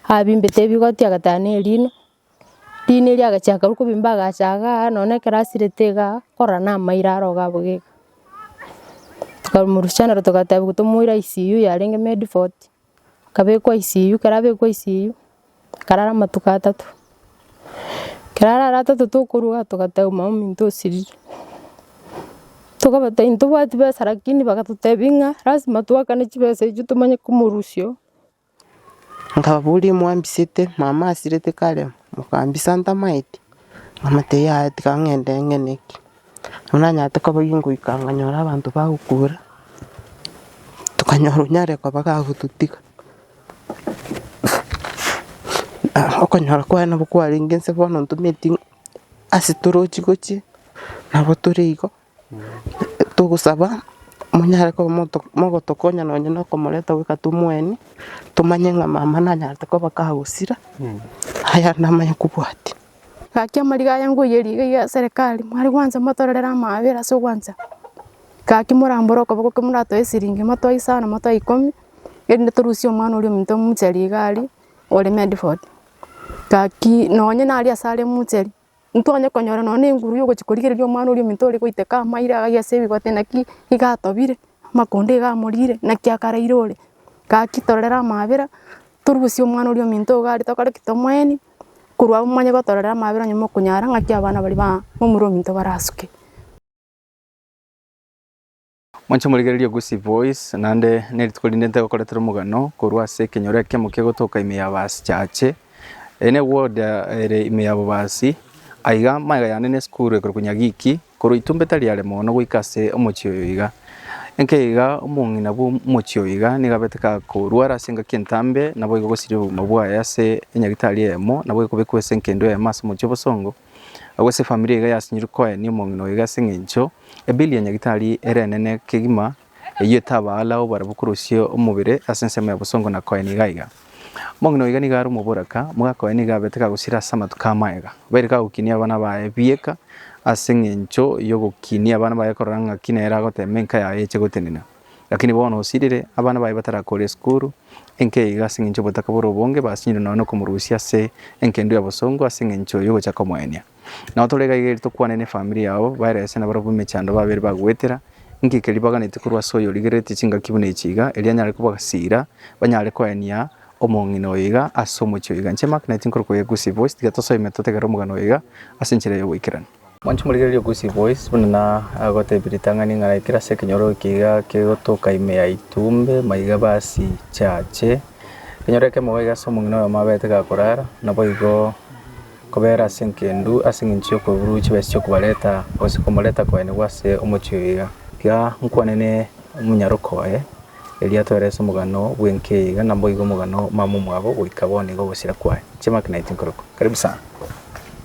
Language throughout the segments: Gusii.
abimbete ebigoti agatara ne erino, erino erio agachia korwa kobimba agacha igaa aa nonya ne ekero asirete igaa korora na amairo arogo abwo iga, tokamorusia naro togatebiwa tomoira ICU yarenge medford, akabekwa ICU, ekero abekwa ICU, akarara amatuko atato, ekero arare atato tokorwa togatebiwa mamominto osirire, tokabatebia ntobwati besa lakini bagatotebi ng'a lasima twakane chibesa echio tomanye komorusio. Nkababoria, Mwambisete mwamaasirete kare mokambisa ntamaeti? Nkabatebia, Yaya, tiga ng'ende ng'eneke. Nabo nanyarete kobagia ngoika nkanyora abanto bagokura, tokanyora onyare koba gagototiga. Okonyora kwaye nabo kwarenge nse bono ntometi ase toroche gochia, nabo tore igo. Togosaba monyare koba mogotokonya nonye na okomoreta goika tomweenie, tomanye ng'a mama nanyarete koba kagosira, aya namanye kobwatia. Gaki amariga aya ngoiyeria iga iga serikali, mware gwancha motororere amaabera ase ogwancha, gaki morambore okoboko ekero moratoe esiringi, motoe isano, motoe ikomi, erinde torusie omwana oria ominto omochari iga aria, ore made for, gaki nonye nare ase are omochari. ntonya konyora nonya ne enguru yogochia korigereria omwana oria ominto ore goiteka amaire agaiga ase ebigote naki iga atobire, amakonda iga amorire naki akaraire ore. Gaki torere amabera, torusie omwana oria ominto iga are tokore ki? Tomoeni korwa agwo momanye gotorera amabera onye mokonyara ng'aki abana baria ba momura ominto barasuke. Moche morigererie Gusii Voice, naende nerituko rinde ntegokoretera omogano korwa ase ekenyoro ekemo kegotoka ime ya baasi chache. Eye ne ward ere ime ya bobaasi. Aiga magega yane ne esukuru ekorokwa Nyagiki, korwa Itumbe tari are moono goika ase omochie oyo iga. Enke iga obong'ina bwo omochie oyo iga nigo abete kakorwara ase engaki entambe, naboigo gosiria obogima bwaye ase enyagitari eyemo, naboigo kobekwa ase enkendo eyemo ase omochie obosongo. Agwo ase efamiri iga yasinyorwe Cohen omong'ina oyo iga ase engencho ebeli ya nyagitari ere enene kegima, eyio etaba alao barabwo korosia omobere ase ensemo ya bosongo na Cohen iga iga. Omong'ina oyo iga nigo are omoboraka, moga Cohen iga abete kagosira ase amatuko amaega, baire kagokinia abana baye bieka ase engencho yogokinia abana baye korora ng'aki nere agoteema enka yaye eche gotenena. Lakini bono osirire, abana baye batarakore esukuru, enki iga ase engencho y'obotaka bore obonge, basinyire nonya nokomorusia ase enkendu ya bosongo ase engencho y'ogocha komoenia. Nao tore iga iga eri tokwane nefamiri yao, baere ase nabarabwo b'emechando babere bagoetera, enki keri baganeti korwa ase oyo origerereti chingaki buna echi iga, erio anyare kobasira, banyare koenia omong'ina oyo iga ase omochie oyo iga. Inche Mark, 19 korokwa Yegusi Voice, tiga tosoime totegerere omogano oyo iga ase enchera y'oboikeranu. Mwanche morigererie okwisia boys buna nagotebi ritang'ani ng'a ekero ase ekenyoro eke iga kegotoka ime ya ituumbe maiga basichache ekenyoro ekemo iga ase omong'ina oyomo abaete gakorara naboigo kobera ase engendu ase eng'encho ya okoigururwa chibesa chia okobareta gose komoreta koenigwa ase omochie oyo iga. Iga nkwanene omonyaroka oye erio atoere ase omogano bw'enka eye iga naboigo omogano mama omwabo goika bono iga ogosira kwaye. Chiamaki naye tinkorokwa. Karibu sana.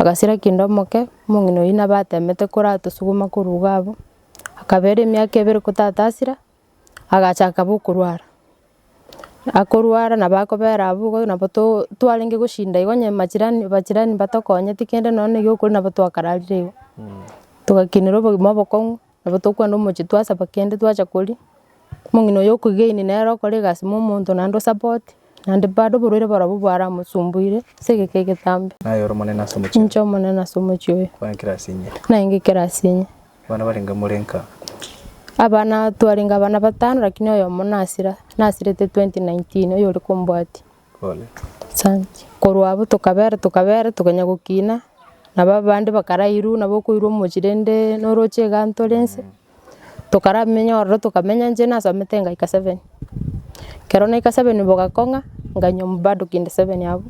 Agasira kende omoke, omong'ina oyio nabo atemete koratosuguma korwa iga abwo, akaba ere emiaka ebere kotatasira, agacha akaba okorwara. Akorwara nabo akobera abwo igo nabo to- twarenge goshinda igo onye majirani abajirani mbatokonyeti kende nonya na egiokori nabo twakararire igo, togakinerwa obogima obokong'u. Nabo tokogenda omochie twasaba kende twacha koria, omong'ina oyo okogeini nere okore egasi mo omonto naende osapoti, naende bado oborwaire barobwo bwaramosumbuire ase egeka egetambe. Naye ore omonene ase omochie. Ninche omonene ase omochie oyo. Kwangekire ase inye. Nangekire ase inye. Abana barenge more nka. Abana twarenge abana batano lakini oyomo nasira, nasirete 2019 oyore kombwatia. Korwa abwo tokabera tokabera tokanya gokina, nabo abande bakarairwa nabo okoirwa omochie rende noroche iga ntore inse, tokaramenya ororo tokamenya inche nasamete ngaika seven. Ekero naika seven bogakong'a nkanywa bado kende seven abwo,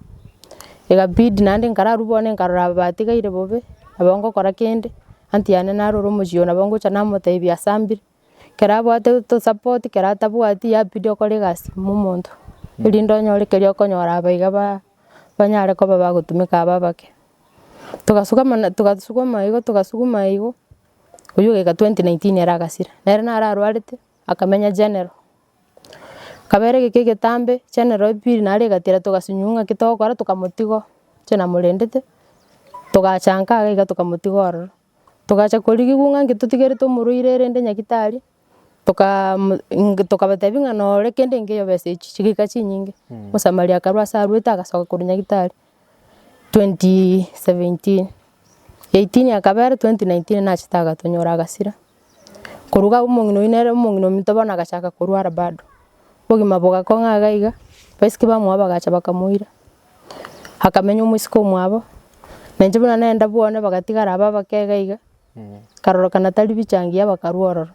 egabidi naende nkararwa bono nkarora abatigaire bobe, nabo ngokora kende, aunty yane narure omochie oyo nabo ngocha namotebia asambire, Kera abwate to support kera atabwati yabidi okore egasi ime omonto erinde onyore keria okonyora aba iga ba- banyare koba bagotumeka abe abake. Togasuka mana togasukuma igo togasukuma igo, oyio ogeka twenty nineteen ere agasira, nere naro arwarete akamenya general, kabere egeka egetambe general epili naro egatira togasunywa ng'a ki togokora tokamotiga oo inche namorendete, togachanka iga tokamotiga ororo. Togacha korigigwa ng'a inche totigerete omorwaire erende nyagitari, tokaa tokabatebia ng'a nore kende enke eyobesa echi chigaika chinyinge, omosamari akarwa ase arwete agasoka korwa nyagitari, twenty seventeen, eighteen akabera twenty nineteen nachete agatonyora agasira. Koruga omong'ina oyio nere omong'ina ominto bono agachaka korwara bado, obogima bogakong'a iga iga, abaisiki bamwabo bagacha bakamoira, akamenya omosike omwabo, na inche buna nagenda bwane bagatigara abe abake iga iga, nkarorokana tari bichangia bakarwa ororo,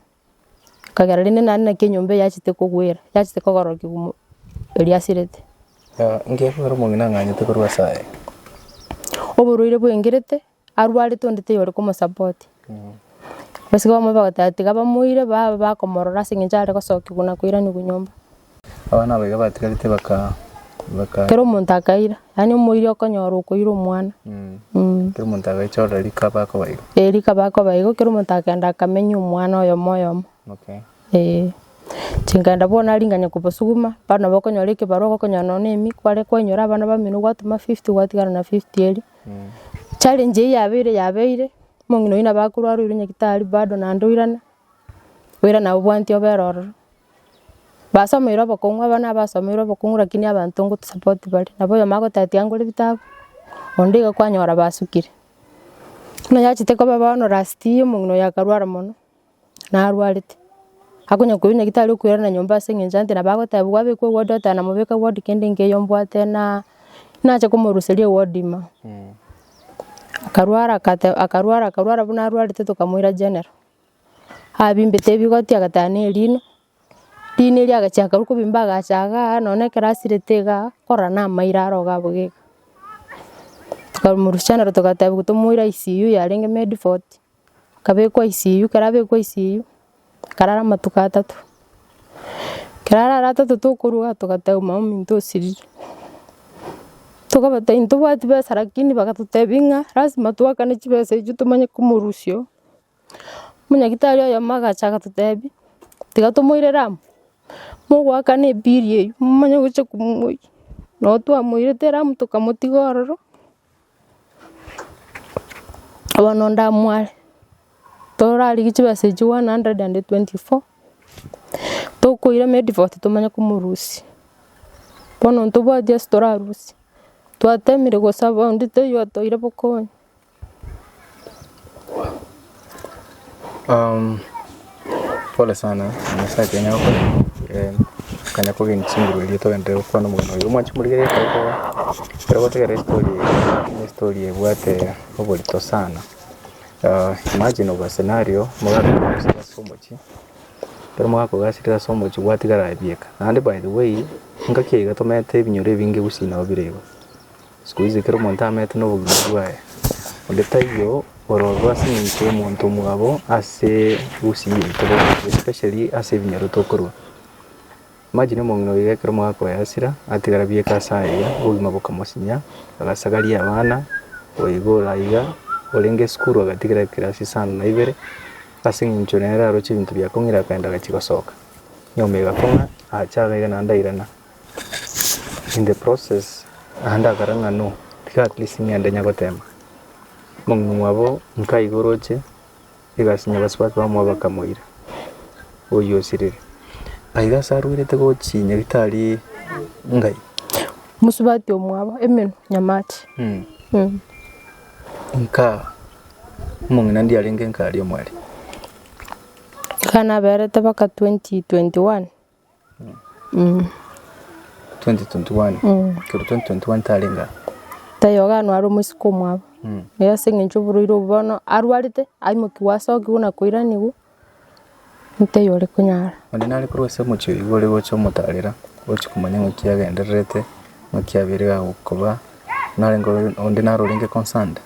ekagera rende naende naki enyomba eye yachete kogwera, yachete kogororokia omo- eria asirete. Inche ekero omong'ina ang'anyete korwa ase aye. Oborwaire bwa engerete. Arwarete onde teiyo ore komosupport. Gose iga bamobua bagoteba tiga bamoire baba bakomorora ase eng'encho are gosokigwa na koiranigwa nyomba. Abana aba iga batigarete baka baka Kera omonto akaira, yaani omoiri okonyora okoira omwana. Mm. kera omonto agaichorora rika bakoba igo. Eh rika bakoba igo, kera omonto akenda akamenya omwana oyomo oyomo. Okay. Eh. Chinga'enda bono aring'ane kobosuguma, bono nabo okonyora ekebarua igo okonyora nonya na emiku, bare kwainyora abana bamino gwatoma fifty gwatigara na fifty eria. Challenge eye yabeire yabeire, omong'ina oyio nabo akorwara oirwe nyagetari bado naende oirana, oirana obwaneti obera ororo. Basomeire obokong'u aba na abasomeire obokong'u lakini abanto ngotosupport bare, nabo oyomwabo agotatia ngore bitabu, onde iga kwanyora basukire. Buna yachete koba bono last year omong'ina oyo akarwara mono. narwarete, akonya koirwa nyagetari okoirana na nyomba ase eng'encho ante nabo agotebigwa abekwe ward oteba namobeka ward kende nkeiyo mbwate na nache komoruseria eward ime, akarwara akateba akarwara akarwara buna arwarete tokamoira general, abimbete ebigoti agateba na erino, rino erio agachia akarwa kobimba agacha igaa nonya na ekero asirete igaa korora na amairo aro iga abwo iga, tokamorusia general togatebigwa tomoire ICU yarenge medford. akabekwa isiyuu, ekero abekwa isiyuu, akarara amatuko atato, ekero arare atato tokorwa togateba maominto osiriri, tokabatebia ntobwati besa lakini bagatotebia ng'a lasima twakane chibesa echio tomanye komorusia oo, omonyagetari oyomo agacha agatotebia tiga tomoirere amo, mogoakana ebiiri eyio momanye gocha komoiyia, nabo twamoirete amo tokamotiga ororo. Bono ndamware, torarigia chibesa echio one hundred and twenty four, tokoira Mediford titomanya komorusia, bono ntobwati ase torarusie, twatemire gosaba onde taiyo otoire bokonyi. Pole sana nyasae akonyare gokora akonyare kogeni chinguru eria togende gokwana omogeni oyo omwanchi morigereria ekero toba ekero gotegerera estory eye estory ebwate oborito sana imagine obwa scenario morakogasire ase omochie ekero morakogasire ase omochie gwatigara ebieka naende by the way engaki iga tomanyete ebinyoro ebinge gusii nabo bire iga. Sikuizi ekero omonto amerete nobogima bwaye, onde taiyo ororwa ase eng'encho y'omonto omwabo ase usi yaito boronge, especially ase ebinyoro tokorwa. Imagine omong'ina oiga ekero mwakoyasira, atigara bieka ase aye, obogima bokamosinya, agasagaria abana, oiga ore aiga, orenge esukuru agatigara ekirasi isano na ibere, ase eng'encho nere aroche ebinto biakong'ira akaenda agachia gosoka, nyomba egakong'a, acha iga naende airana. In the process naende akora ng'a no, tiga at least ng'ende inya gotema. Omong'ina mwabo nka iga oroche egasi inya gose baka bamwabo bakamoira, oyio osirire. Nka iga ase arwerete gochia nyagetari ngai. Mosubati omwabo emenwa nyamache. Nka omong'ina ndie arenge nka aria omwari. Iga naberete baka 2021. 2021 tarenge aa. Tayoganwa are omoiseke omwabo. Erio ase eng'encho oborwaire obwo bono arwarete, aimokigwa asokigwe na koiranigwa, ntaiyo ore konyara. Onde nare korwa ase omochie oyio igoro ogocha omotarera, ogochia komanya ng'aki agendererete, ng'aki abeire iga agokoba, narenge ore onde nare orenge concerned?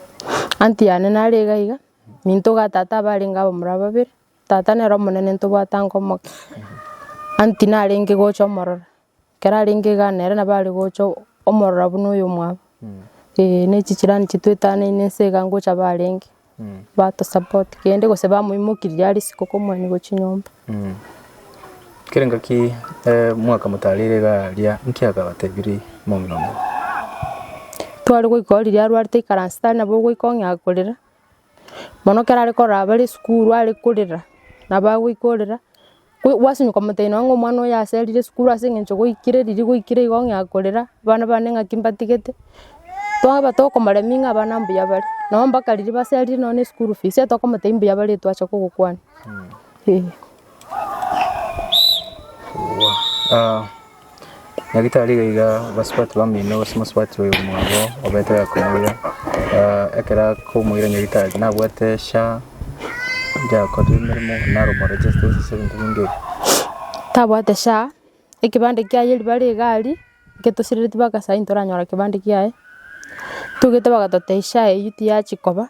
Anti yane nare iga iga, minto iga tata abarenge abamura babere. Tata nere omonene ntobwate ango omoke. Anti narenge gocha omorora, ekero arenge iga nere nabo are gocha omorora buna oyo omwabo. Eeh ne chicirani chire twetanaine nse iga ngocha barenge, bato support kende gose bamoimokirie are isiko komwanigwa chinyomba. Kera engaki mwaka motareire iga aria, nki akabatebirie momino obo? Tware goika oo riria arwarete aikaranse tari nabo ogoika ong'ea korera. Bono ekero are korora bare esukuru are korera, nabo agoika orera, gwasinyuka omotebi nonya ng'a omwana oyo aserire esukuru ase eng'encho gwaikire riria gwaikire igo ng'a korera, abana bane ng'aki mbatigete, twaba tokomoremia ng'a abana mbuya bare, nonya mpaka riria baserire nonya ne esukuru fees, tokomotebi mbuya bare twacha kogokwana, eeh. Nyagetari iga iga abasubati bamenyene na ase omosubatii oyo mwabo obete akomoira ekero akomoira nyagetari nabwate SHA eria akoretire emeremo narumwa register ase ebinto binto ebi. Tabwate SHA, ekebande kiaye riba rigari eke tosiriretie mpaka saii ntoranyora kebande kiaye, togete bagatotebia SHA eyio tiyachia koba,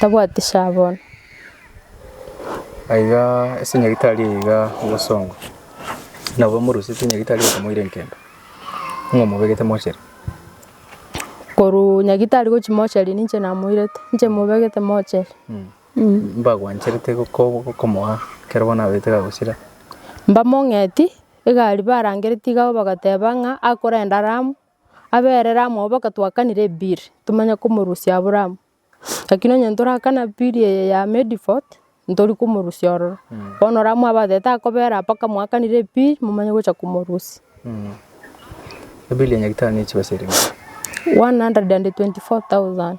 tabwati sha bono. Aiga ase nyagetari eye iga ogosongwa, nabo omorusete nyagetari okamoira enkembe, ng'a omobegete mochere. Korwa nyagetari gochia mochere ninche namoirete, ninche mobegete mochere. Mbagwancherete ko- ko- komoa ekero bono abaete gagosira. Mbamong'eti, egari barangereti iga igo bagateba ng'a akorenda Ramu, aberere amo nabo baka twakanire ebill tomenye komorusia Abraham lakini onye torakana bill eye ya Mediford ntori komorusia ororo bono ore amo abateba takobera mpaka mwakanire ebill momanye gocha komorusia. Ebill ya nyagetari ne chibesa erenge? One hundred and twenty four thousand.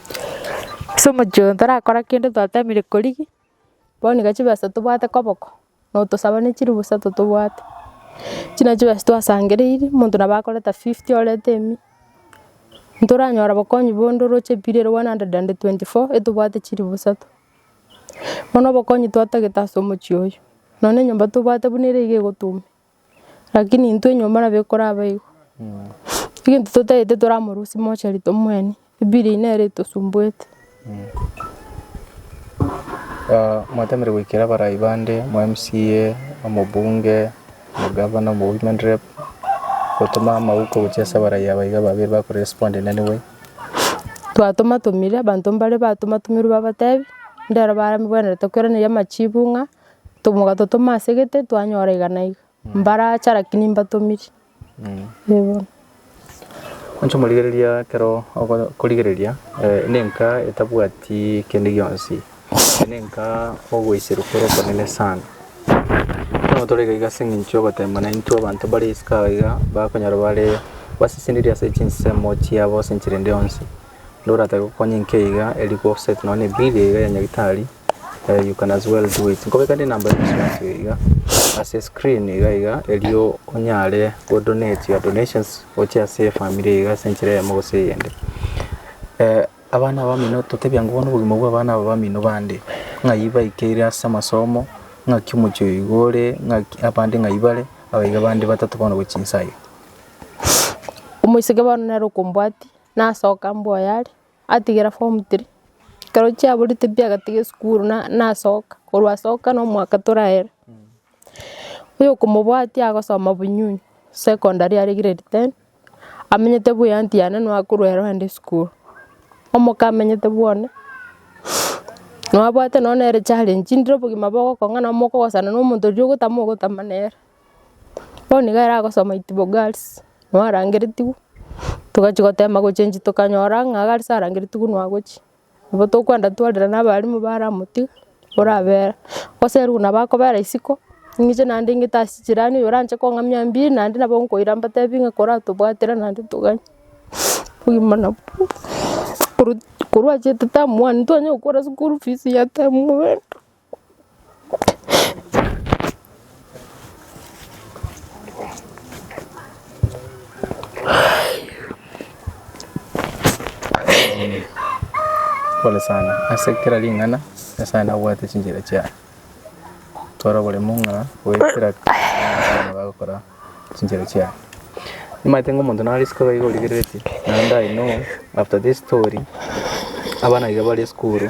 Ase omochie oyo torakora kende twatemire korigia, bono iga chibesa tobwate koboko, notosaba ne chirusa totobwate, echio na chibesa twasangereiri, omonto nabo akoreta fifty orete emi, ntoranyora obokonyi bonde oroche period one hundred and twenty four etobwate chiribu isato. Bono obokonyi twatagete ase omochie oyo, nonya enyomba tobwate buna ere iga egotuma. Rakini intwe nyomba nabo ekoraba igo. Egento totaete toramorusie mochari tomweenie, ebiiri eye nere etosumbuete. Mwateneire goikera abarai bande, mo mca, omobunge, omogavana, omo women rep, gotoma amauko gochia ase abarai aba iga babere bako respond in any way? Twatomatomire, abanto mbare batomatomire babatebi, ndero baramegwenerete kweraneria amachibu ng'a Mogatotoma ase egete twanyora iga na iga, mbarache lakini mbatomiri. Inche omorigereria ekero okorigereria nenka etabwati kende gionsi, nenka ogoiserwa kore okonene sana. Ekero tore iga iga ase eng'encho ya ogoteema naintwe abanto bare isiko aye iga bakonyora bare baseseniri ase chinsemo chiabo ase enchera ende yonsi. Ndoratebi okonye enka iga eri gose nonya ebill iga ya nyagetari. eh you can as well do it nkobekanie number ya insurance eyo iga ase screen iga iga erio onyare go donate your donations oche ase efamiri iga ase enchera eyemo gose eyende eh abana abamino totebia nko bono obogima bwa abana aba bamino bande ng'ai baikeire ase amasomo ng'aki omochie oyo iga ore ng'aki abande ng'ai bare aba iga abande batato bono gochia inse aya. Omoiseke bono nere okombwatia nasoka mboyo are. atigera form three, ekero chiaborete pi agatiga esukuru na- nasoka, korwa asoka na omwaka toraye ere. Oyokomobwatia agosoma bunyunyi secondary are grade ten, amenyete buya anti yane nabo akorwa ero ande esukuru, omoka amenyete bwone, nabo abwate nonye nere challenge, ndire obogima bogokong'ana mokogosana na omonto riria ogotama ogotama nere. Bono nigo aragosoma itibo gals, nabo arangeretigwe, togachia gotema gochengi tokanyora ng'a gals arangeretigwe nigo agochia, nigo tokwenda twarire na abalimu bare amotiga, orabera, oserigwe nabo akobera isiko, ing'che naende ing'ete ase chirani oyo oranche kong'amia mbiiri naende nabo nkoira mbatebi ng'a koratobwatire naende toganye, obogima nabwo korwa achiete term one, twanyara gokora school fees ya term one. Pole sana ase kera ring'ana nyasaye nabwate chinchera chiaye toro oboremo ng'a goetera bagokora chinchera chiaye nimanyete ng'a omonto nare isiko iga iga origereretie naende I know after this story abana iga bare esukuru.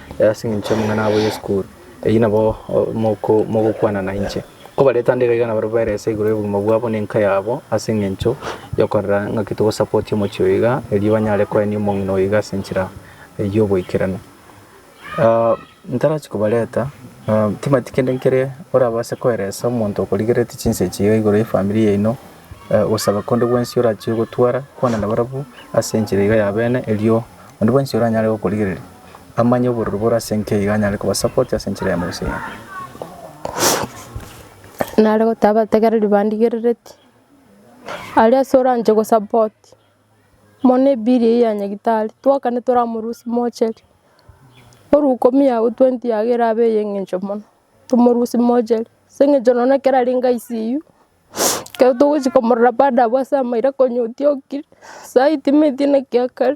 Ase engencho amang'ana abo y'esukuru eyio nabo mogokwana nainche. Nkobareta nde igaiga nabarabwo baere ase igoro y'obogima bwabo na enka yabo ase engencho yokorora ng'aki togosapotia omochie oyo iga erio banyare koenia omong'ina oyo iga ase enchera y'oboikeranu. Ntarachi kobareta timanyeti kende nkere orabase koeresa omonto okorigereretie chinsa echi iga igoro y'efamiri yaino ogosaba konde gwensi orachie gotwara kwana nabarabwo ase enchera iga ya bene erio onde bwensi oranyare gokorigereria. Amanye obororo bore ase enki aiga anyare kobasapoti ase enchera ya Musa eye. Nare gotaha abategereri bandigerereti. Aria ase oranche gosapoti. Mona ebill eye ya nyagetari. Twakane toramorusie mochere. Oru ikomi yago twenty yago erabe eye engencho mono. Tomorusie mochere. Ase engencho nonya ekero arenge ICU, ekero togochia komorora baada abwo ase amaira konya otiokire. Saii timanyeti naki akare.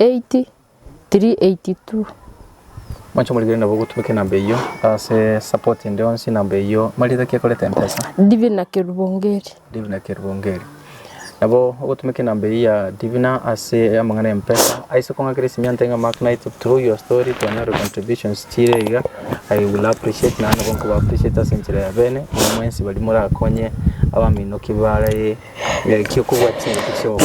8382. Mwanche morigererie nabo gotumeka enamba eyio ase support ende yonsi enamba eyio marieta ki ekoreta mpesa. Divina Kerubongeri. Divina Kerubongeri. Nabo ogotumeka enamba eyio ya Divina ase amang'ana ya mpesa aise kong'akera esimiante ng'a Mark Knight through your story twanyore your contributions chire iga I will appreciate naende nabo nkoba appreciate ase enchera ya bene inwe mwensi baria morakonye abaminoki bare ekio kobwati chingaki chioka.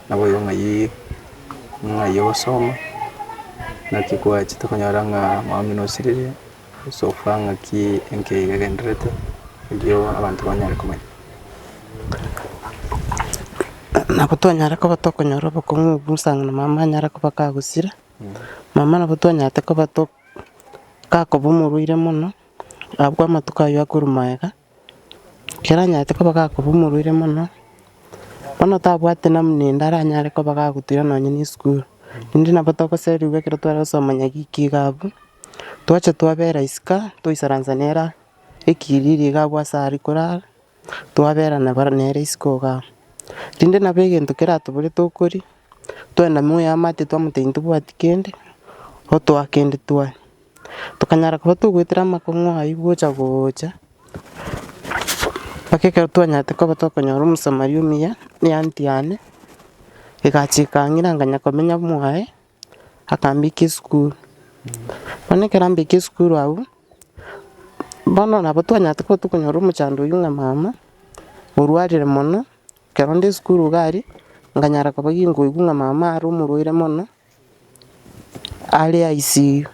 Nabo oyo ng'ai ng'ai ogosoma, naki kwachete konyora ng'a omwami nosiririe, gose ofaa ng'aki enki eye egendererete, erio abanto banyare komanya. Nabo twanyare koba tokonyora obokong'u obwo Musa ng'a na mama anyare koba kagosira, mama nabo twanyarete koba to kakoba omorwaire mono, abwo amatuko ayio akorwa magega. keranyarete koba gakorwa omorwaire mono, bono otabwati namuna ende aranyare koba gagotira nonye ne esukuru, rende nabo togoserigwa ekero tware gosoma nyagiki ki iga abwo, twacha twabera isiko toisaransa nera ekiriri iga abwo ase aria korara, twabera nabo nere isiko iga abwo. Rende nabo egento keratobore tokoria, twenda moyamate twamotebia intobwati kende, otoa kende twaria. Tokanyara korwa togoetera amakong'u ayio gocha gocha, mpaka ekero twanyarete korwa tokonyora omosamaria omuya, ne anti yane, egacha ekang'ira nkanya komenya amo aye, akambeka esukuru. Bono ekero ambekire esukuru agwo, bono nabo twanyarete korwa tokonyora omochando oyio ng'a mama, orwarire mono, ekero nde esukuru iga aria, nkanyara koba ginkoigwa ng'a mama are omorwaire mono. Aria aisirie,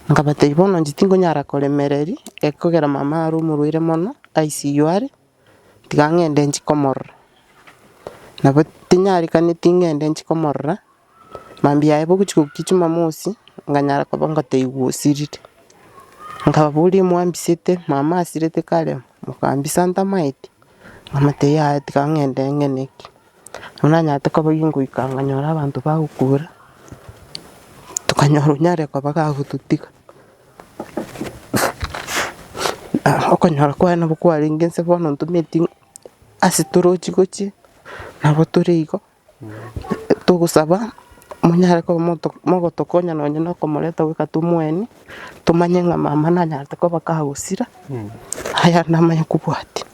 nkabatebia bono inche tingonyara koremereria, ekogera mama are omorwaire mono, aisirwe are, tiga ng'ende inche komorora, nabo tinyarikaneti ng'ende inche komorora, mambia yaye bogochia gokia jumamosi, nkanyara koba ngotebiwa osirire, nkababoria mwambisete, mama asirete kare, mokambisa ntamaeti, nkamotebia yaya tiga ng'ende ng'eneke. Nabo nanyarete koboyia ngoika nkanyora abanto bagokura, tokanyora onyare koba gagototiga okonyora kwaye nabo kwarenge nse bono ntometi ase toroche gochia nabo tore igo togosaba monyare koba mogotokonya nonye na okomoreta goika tomoeni, tomanye ng'a mama nanyarete koba kagosira, aya namanya kobwatia.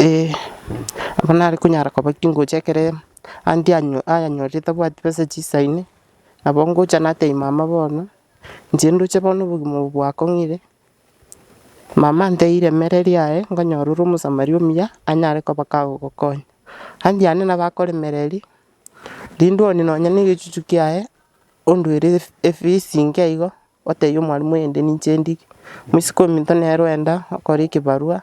Ee, abwo nare konyara koba chingocha ekere aunty anya ayanyorire tabwati besa chisaine, nabo ngocha natebia mama bono, inche ndoche bono obogima obo bwakong'ire, mama anteire emere eria yaye, nkonyora ore omosamaria omuya, anyare koba kagogokonya. Aunty yane nabo akoremera eria, rende one nonya na egechuchu kiaye, onduere ef- efees inke igo, otebia omwalimu oyende ninche ndike, mwesiko ominto nere oenda okore ekebarwa.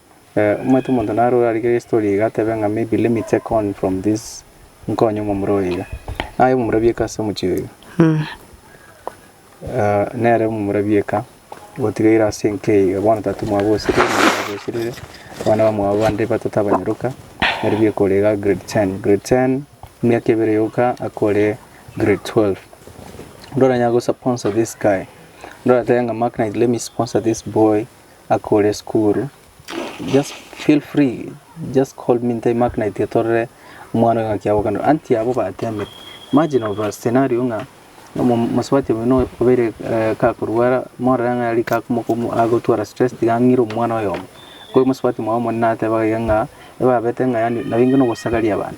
Omanyete omonto naro orarigere estory iga atebe ng'a maybe let me take on from this nkonye omomura oyo iga. Naye omomura bieka ase omochie oyo iga. Eh, nere omomura bieka gotigaire ase enka eye iga bono tata omwabo osirire mama mwabo osirire abana bamwabo bande batata abanyaroka nari bieka ore iga grade ten. Grade ten emiaka ebere yoka akore grade twelve. Ndoranyare gosaponsa this guy, ndoratebe ng'a maknaiti let me sponsor this boy. akore esukuru, just feel free, just call me nte Mark na itiyo torore omwana oyo ng'aki agokenera. Anti abwo batemire. Imagine of a scenario ng'a omo- omosubati omonene oyo obeire eh, kakorwara, morore ng'a rika akomoka omo- agotwara stress tiga ang'ire omwana oyomo. Ko omosubati mwaye omonene atebaga iga ng'a, ebabete ng'a yaani nabo inwe nogosagaria abana.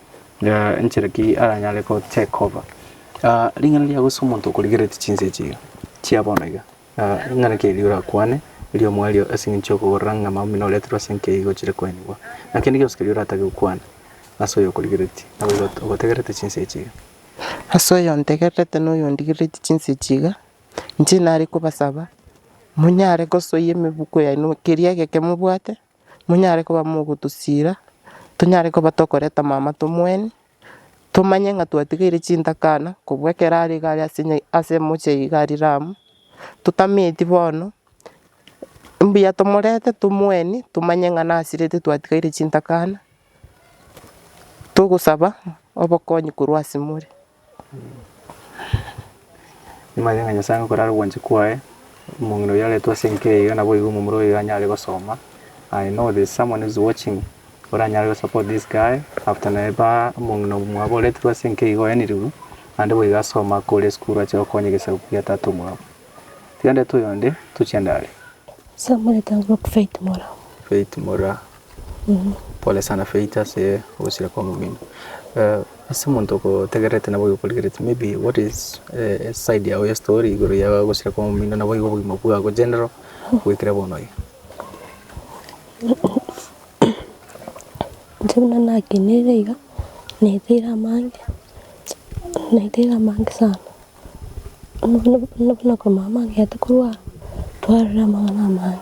Enchera ki aranyare gocheka obo? Ring'ana ria gosa omonto okorigeretie chinsa echi iga chia bono iga, ring'ana ki erio orakwane erio omwerio ase eng'encho ya okogorora ng'a amabera omino oreterwe ase enka iga ochire koenigwa. Naki kende gionsi keria oratake gokwana ase oyo okorigereretie, naboigo ogotegererete chinsa echi iga. Ase oyo ontegererete na oyo ondigereretie chinsa echi iga, inche nare kobasaba monyare gosoyia emebuko yaino keria egeke mobwate, monyare koba mogotosiira, tonyare koba tokoreta amaamato omwene, tomanye ng'a twatigeire chintakana kobua ekero are iga are ase nya- ase omochie iga are Ramu, totameti bono, mbuya tomorete tomweni tomanye ng'a nasirete twatigeire chintakana, togosaba obokonyi korwa ase more. Nimanyete ng'a Nyasae nigo korare obwanchani kwaye, omong'ina oyio aretwe ase enka eye iga naboigo omomura oyo iga anyare gosoma. I know there's someone who is watching oranyare go support this guy after naye ba omong'ina omwabo oreterwe ase enka iga oenirigwe naende boigo asoma akore esukuru ache gokonya egesaku kia tata omwabo. Tiga ndete oyonde tochie ndare. Samuel Tanglock Faith Mora. Faith Mora. Pole sana Faith ase ogosira kwa omomino. Ase omonto ogotegererete naboigo okorigereti maybe what is side yago ya story igoro ya ogosira kwa omomino naboigo obogima bwago general goikera bono iga. Intwe buna nakeneire iga, naeteire amange, naeteire amange sana. Buna buna buna korwa mama agete korwara, twarorire amang'ana amange.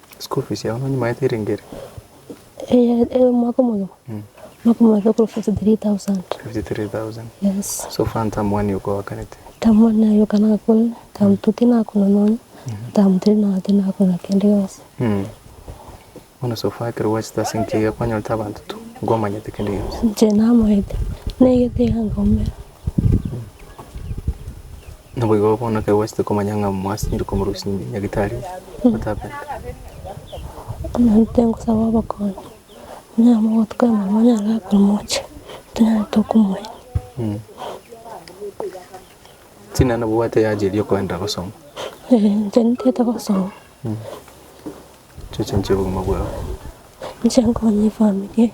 School fees yao nonye maete ere ngeri? Eye eye omwaka omogima. Omwaka omogima ekoro 53000. 53,000. Yes. So far ntamu wani okoakanete. Tamu wani nayo kana akona. Tamu tuti nakona nonye. Tamu tiri nagati nakona kende yose. Mm. Bono so far ekero gwachete ase enkiya eria kwanyorete abanto tu, nkwamanyete kende gionsi. Inche namaete. Naigete iga ngaume. Naboigo bono ekero gwachete komanya ng'a mwasibire komorusia ime, nyagitari otabe. Omonto nkosaba obokonyi, onyare mogotuka mama onyare gakora moche, tonyare tokomoira. China nabwate yaacheria okoenda gosoma. Eeh inche ntiete gosoma. Chicho nchia obogima bwao. Inche nkonye efamiri.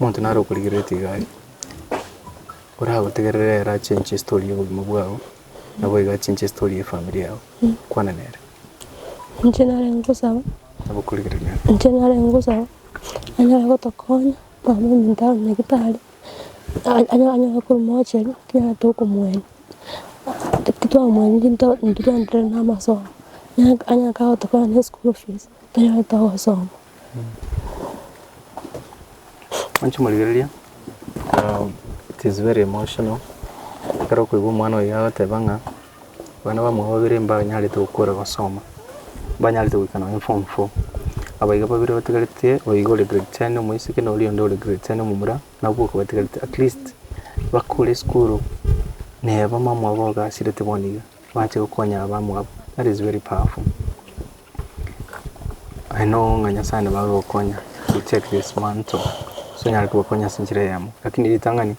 omonto naro okorigereretie iga aria, oragotegerere ere achenche estory y'obogima bwao, nabo iga achenche estory y'efamiri yao, kwana nere. Inche nare ngosaba, Nabo okorigereria ere. inche nare ngosaba, anyare gotokonya mambia omonto abe nyagetari, a- anya- anyare korwa mochari, ekero tokomoenia, titwamwenereti ntoo intwe twaenderere na amasomo, anya- anyare kagotokonya ne school fees, tonyare togosoma. Mwanche morigereria. It is very emotional ekero okoigwa omwana oye agoteba ng'a abana bamwabo babere mbanyarete gokora gosoma, mbanyarete goika nonye form four, aba iga babere batigarete oyo iga ore grade ten omoiseke na oria onde ore grade ten omomura, nabwo okobatigarete at least bakore esukuru neba mamwabo ogasirete bono iga, bache gokonya abamwabo, that is very powerful. Aye no onga Nyasae nabo agokonya to check this man to onyare kogokonya ase enchera eyemo. Rakini ritang'ani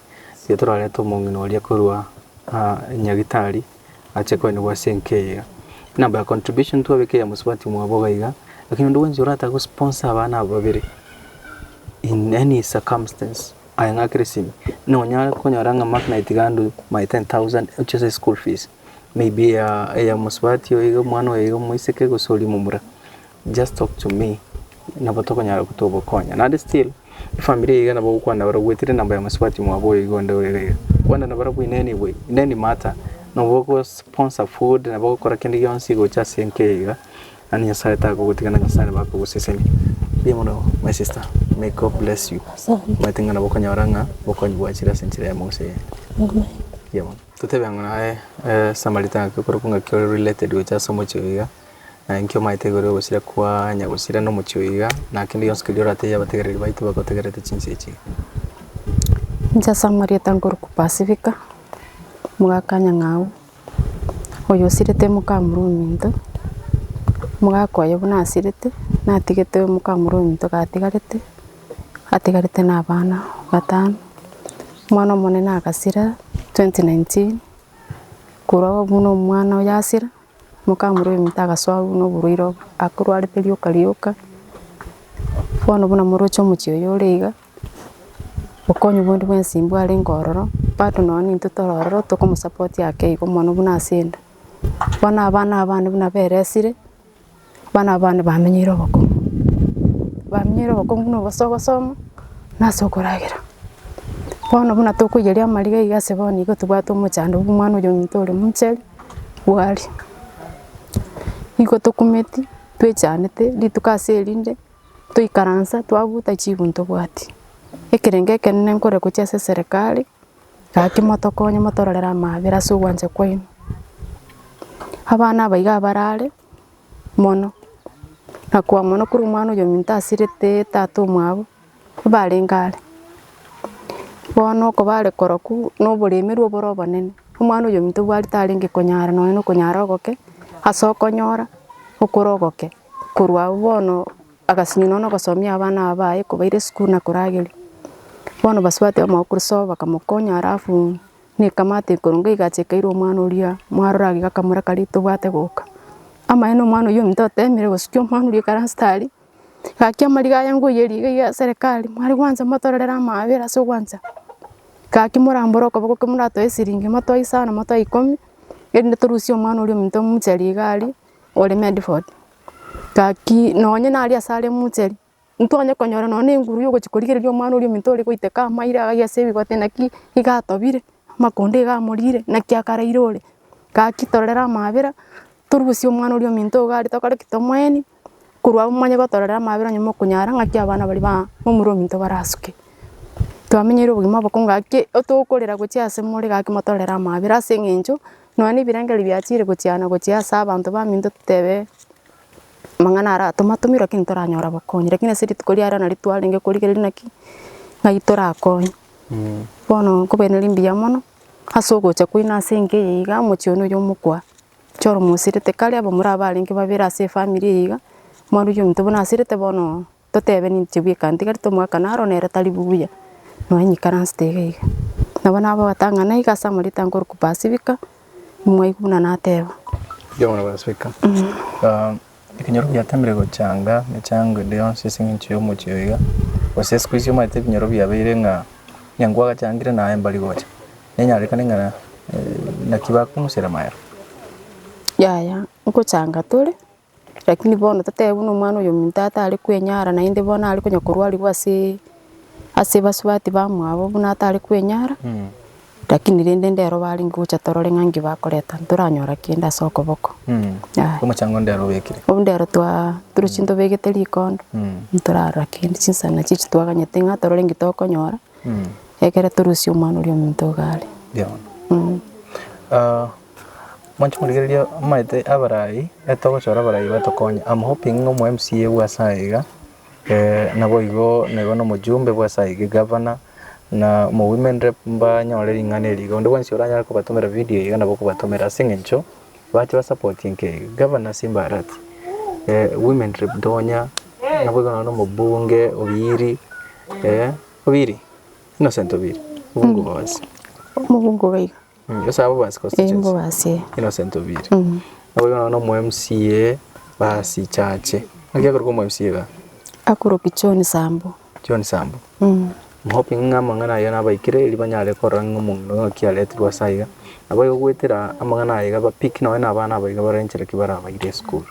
riria torarete omong'ina oria korwa nyagitari ache koenigwa ase enka eye iga. Buna by contribution twabeka eya mosubati mwabo iga iga, rakini onde bwensi oratake go sponsor abana aba babere in any circumstance aye ng'akere simi, nonyare konyora ng'a Mark na Itigandi my ten thousand oche ase eschool fees. maybe eya eya mosubati oyo iga omwana oyo iga omoiseke gose oria omomura, just talk to me nabo tokonyara go togokonya. Naende still, efamiri eye iga nabo ogokwana nabo ogwetire namba ya mosubati mwabo oyo iga onde orere iga, kwana na barabwo in any way, in any matter, nabo ogosponsor food, nabo ogokora kende gionsi gocha ase enka eye iga, yaani Nyasaye takogotiga na Nyasaye nabo akogosesenia. Mbuya mono my sister, may God bless you, omanyete ng'a nabo okonyora ng'a obokong'u bwachire ase enchera yamo gose eyende. Mbuya mono. Totebe ng'a naye Samaritan ngaki okorokwa ngaki ore related gocha ase omochie oyo iga, naye nki omaete igoro yogosira kwanya gosira na omochie oyo iga, na kende gionsi keria oratebia abategereri baito bagotegerete chinsa echi iga. Inche Samaritan nkorokwa Pasifika, omogaka nyang'au, oyo osirete omokamura ominto, omogaka oyo buna asirete, natigete omokamura ominto gatigarete. atigarete nabana batano, omwana omonene agasira 2019, korwa agwo buna omwana oye asira, mokamura oyominto agasoa buna oborwaire obo, akorwarete rioka rioka, bono buna moroche omochie oyo ore iga, okonyu bwendi bwensi mbwarenge ororo, bado nonya intwe tore ororo tokomosapotia ake igo mono buna asende, bono abana abande buna beresire. Abana aba bande bamenyeire obokong'u, bamenyeire obokong'u na obosio ogosoma na ase okoragera. Bono buna tokoiyeria amariga iga ase bono nigo tobwate omochando bwa omwana oyo ominto ore omochenu bwaria. Nigo tokumeti twechanete rituko ase erinde, toikaransa twabuta chigwa ntobwati. Ekerengo ekenene nkore gochia ase serekari. Gaki motokonye motororere amaabera ase ogwancha kwaino. Abana aba iga abare are mono, na koa mono kore omwana oyominto asirete tata omwabo mbarenge are. Bono okobare korokwu na oboremerwu obore obonene, omwana oyominto obwarete arenge konyara nonya na okonyara ogoke ase okonyora okore ogoke korwa abwo bono. Agasinywa nonya nogosomia abana aba baye kobaira esukuru na korageria. Bono basuate amo okorusia oo bakamokonya alafu ne ekamati ekoronge egacha ekairwa omwana oria mwarore iga akamoraka rita obwate goka. Amaene omwana oyio ominto otemire gosukia omwana oria ekero ase tari, gaki amariga aye ngoiyerie iga iga serekari mware gwancha motorere amaabera ase ogwancha. Gaki morambore okoboko ekero moratoe esiringi motoe isano motoe ikomi erinde torusie omwana oria ominto momocharie iga aria. ore Medford. Gaki nonye nare asare emouchari, ntonye konyora nonye na enguru ya ogochia korigereria omwana oria ominto ore goiteka amairo iga agatebia ase ebigote naki iga atobire, amakonda iga amorire, naki akaraire ore. Gaki torere amaabera, torusie omwana oria ominto iga are tokore ki? Tomoeni, korwa agwo momanye gotorera amaabera onye mokonyara naki abana baria ba omura ominto barasuke. Twamenyeire obogima obokonge gaki, otokorera gochia ase more gaki motorere amaabera ase eng'encho. Nonya nebirengererio biachire gochiana gochia ase abanto baminto totebe amang'ana ara tomatomirwe lakini toranyora bokonyi lakini ase rituko ria rero nario twarenge korigereria naki naki torakonywe. Bono nkobaira nari mbuya mono ase ogocha kwaino ase enka eye iga omochie one oyo omokwa ocha oromosirete kare abamura abarenge babere ase efamiri eye iga mwaruire omonto buna asirete bono. totebe ninche bweka ntigari tomoakane aro nere tari buya, nonya nikaransete iga iga. Nabo nabatang'ana iga ase amarioto anga ore kupasifika, nimwaigwa buna nateba. Ekenyoro giateemire gochanga emechango ende yonsi ase engencho y'omochie oyo iga, gose isiko echi omanyete ebinyoro biabeire ng'a onye nkwagachangire naye mbari gocha, nenyarekane ng'a naki bakomusera maero. Yaya, nkochanga tore. Lakini bono totebe buna omwana oyo ominto atare kwenyara naende bono are konya korwarigwa ase ase basubati bamwabo buna atare kwenyara, lakini rende ndero barenge gocha torore ng'a nki bakoreta ntoranyora kende ase okoboko. Yaya. Omochango ondero obekire. Obwo ndero twa torochi ntobegete rikondo, ntorarora kende chinsana chiaye echi twaganyete ng'a torore nki tokonyora, ekero torusia omwana oria ominto iga are. Ekerono. Mwanche korigereria amaete abarai, ekero togochora abarai batokonye, am hoping ng'a omo mca bwa ase iga iga naboigo naigo na omojumbe bwa ase iga, egavana na omo women rep mbanyore ring'ana eri iga, onde bwensi oranyare kobatomera video eye iga nabo okobatomera ase eng'encho bache ba support enka eye. Gavana ase imbarati women rep ntonya, naboigo nonye na omobunge obiiri, obiiri? Innocent obiiri, obonge obosa. Ase abwo basi gose Ee, nigo basi ee. innocent obiri nabo bono omo mca basi chache naki akorokwa omo mca iga Akoroki John Sambu. John Sambu Mm. I'm hoping ng'a amang'ana aye nabaikire eri banyare korora ng'a omonto ng'aki aretirwe ase aiga nabo igo goetera amang'ana aye iga ba pick nonye na abana aba iga barenche naki barabaire esukuru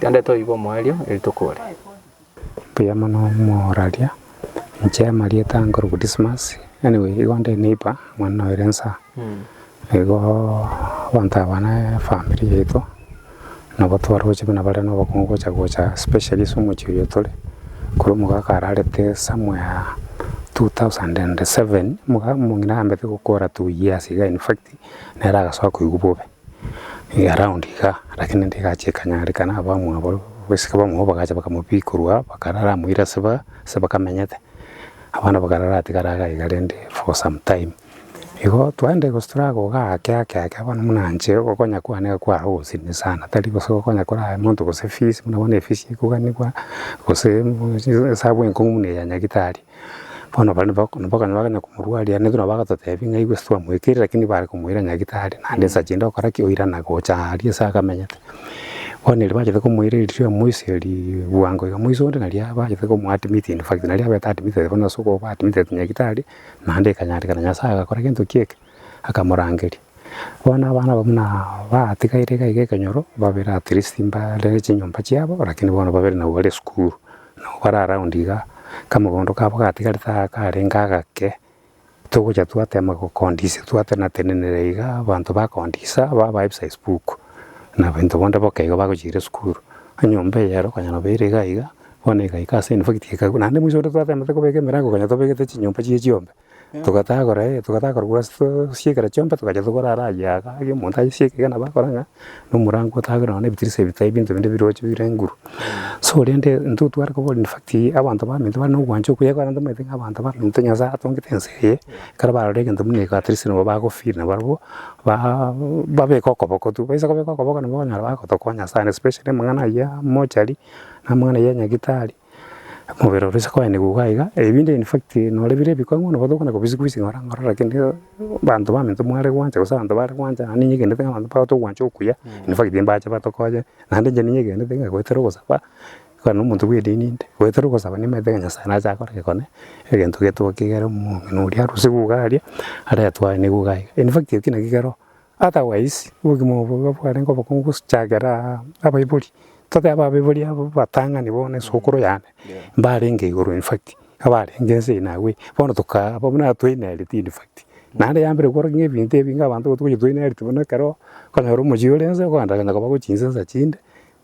tandete oibe omoerio eri tokore. Mbuya mono moraria, inche amarieta nkorokwa Dismas, anyway igo nde neighbour mwane na Oirensa, igo abanto aba na efamiri yaito nabo twaroche buna bare na obokungu gocha gocha especially ase omochie oyo tore, korwa omogaka ararete somewhere two thousand and seven, omoga omong'ina ambete gokora two years iga in fact, nere agasoa koigwa bobe. Around igaa lakini ndigache ekanyarekana abamwabo abaiseke bamwabo bagacha bakamobika korwa aa bakarara amo ase ba ase bakamenyete, abana bakarara atigare iga iga rende for some time. Igo twaenda gose toragoka ake ake ake bono buna inche okonya kwane iga kware ogosirina sana tari gose okonya korara monto gose fees buna bono efees ya ikoganigwa gose esabu enkong'u buna eya nyagetari. Bono baria nabakonywa bagana komorwaria ere nabwo agatotebia ng'a igwe ase twamoekeire lakini bare komoira nyagitari naende nsa chinde okora ki oirana gocha aria ase akamenyete. Bono erio bachaka komoira erio amoiserie bwango iga moise onde nari abachete komoa admit in fact nari abete admitted bono ase okoba admitted nyagitari naende ekanyarekana Nyasaye agakora gento kieka. akamorangeria. Bono abana abwo buna batigaire iga iga ekenyoro, babere at least mbare ne chinyomba chiabo, lakini bono babere nabo bare esukuru, nabo bare around igaa, kamogondo kabo gatigarete aa karenge agake, togocha twatema gokondisia twatenatenenera igaa abanto bakondisa babae ebisa espuku, na baito bonde boka igo bagochiira esukuru. Enyomba eyero konya nabo ere iga iga, bono egaika ase infact ekaigwa naende maiso onde twatema tokobeka emerango konya tobegete chinyomba chiria chiombe, Togatagora ee, togatagora korwa ase tosie ekero chiombe, togacha tokorara aye iga, aye omonto asie ekero nabo akora ng'a na omorango otagwe nonya na ebitirisa ebi tai ebinto binde ebiroche bire nguru. So rende intwe tware koboria in fact abanto baminto bare na ogwancha okuya ekero ntomaete ng'a abanto baminto Nyasae atongete ense eye, ekero barora egento buna eke at least nabo bago feel na barabwo baa babeke okoboko tu. Baisa kobeka okoboko nabo bakonyora bagotokonya sana especially amang'ana ayio ya mochari, na amang'ana ayio ya nyagetari, Omobere ore ase koenigwa iga iga, ebinde in fact nore bire ebikong'u bono nigo tokona kobisia kobisia ng'ora ng'ora lakini abanto baminto mware gwancha gose abanto bare gwancha naende nigenderete abanto bagocha kogwancha okuya in fact mbache batokonye naende inche nigenderete ng'a goetera ogosaba kare na omonto bw'edini inde, goetera ogosaba nimanyete ng'a Nyasae nache akore gekone egento getoa kegere omong'ina oria arosiwu iga aria aretwae nigo iga iga in fact eki naki kero Otherwise, obogima obo nigo bwarenge obokongu gose chagera abaibori, totebe abaibori aba batang'ani bono esukuru yane mbarenge igoro in fact abarenge ense eye nabu eye bono tokaa abwo buna twainaereti in fact. Naende yambire gokora ng'a ebinto ebi ng'a abanto gotogochia twainaereti buna ekero okonyora omochie ore nse okogenda genda koba chinsensa chinde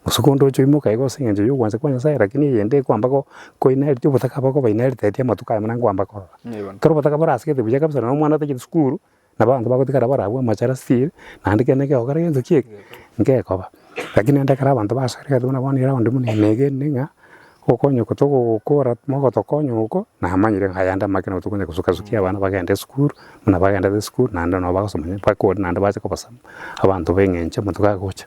gose konde oche oimoke aye gose eng'encho yogwancha kwa Nyasaye lakini eyende ekwamba go koinaereti obotaka bwabo obainaeriteti amatuko aya buna nkwamba korora. Ekero obotaka borasegete buya kabisa nonya omwana otagete sukuru Nabo abanto bagotigara barabwo amachara still, naende ekero nekegokora gento ki eke, ngekoba. Rakini naende ekero abanto basoire egento buna bono eraondi buna ime iga erinde ng'a, okonya oko togokora mogotokonya oko, namanyire ng'a aya nde amagena nabo tokonya gosukasukia abana bagende esukuru, buna bagendete esukuru naende nabo bagosoma onye bakore naende bache kobasaba abanto b'eng'encho amo tokagocha.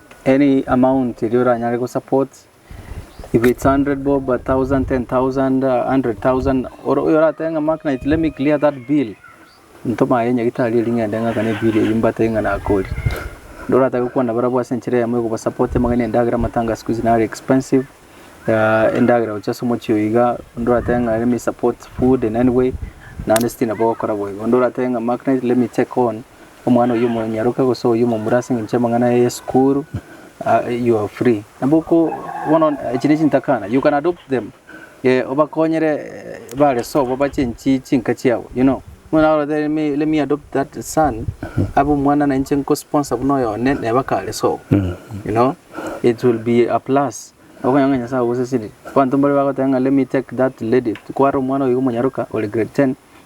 Any amount eria oranyare go support if it's hundred bob, a thousand, ten thousand, a hundred thousand or oyo oratebe ng'a Mark Knight let me clear that bill ntoma aye nyagitari erio ng'ende ng'akane ebill eyio mbatebie ng'a nakoria. Onde oratake gokwana barabwo ase enchera eyemo ya kobasupport amang'ana endagera amatanga a siku hizi nare expensive ah, endagera gochia ase omochie oyo iga, onde oratebe ng'a let me support food in any way naende still nabo ogokora boigo. Onde oratebe ng'a Mark Knight let me take on Omwana oyio omonyaroke gose oyio omomura ase engencho y'amang'ana aye y'esukuru, you are free. Nabo oko bono echi ne chintakana, you can adopt them, obakonyere bare sobo bache enchi chinka chiabo you know. Omwana agotebetia me let me adopt that son, abe omwana na inche nko sponsor buna oyo one neba kare sobo you know, it will be a plus. Nabo okonyora ng'a Nyasae ogosesenirie. Abanto mbare bagoteba ng'a let me take that lady, kware omwana oyo iga omonyaroka ore grade ten,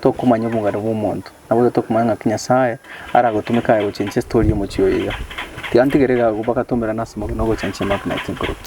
Tokomanya obogare bw'omonto, na boigo tokomanya ng'aki Nyasae aragotumeke aye gochenchia estori y'omochie oyo iga. Tiga ntigere iga agwo bagatomerana ase amagena ogochenchia amagena ya chinkoroki.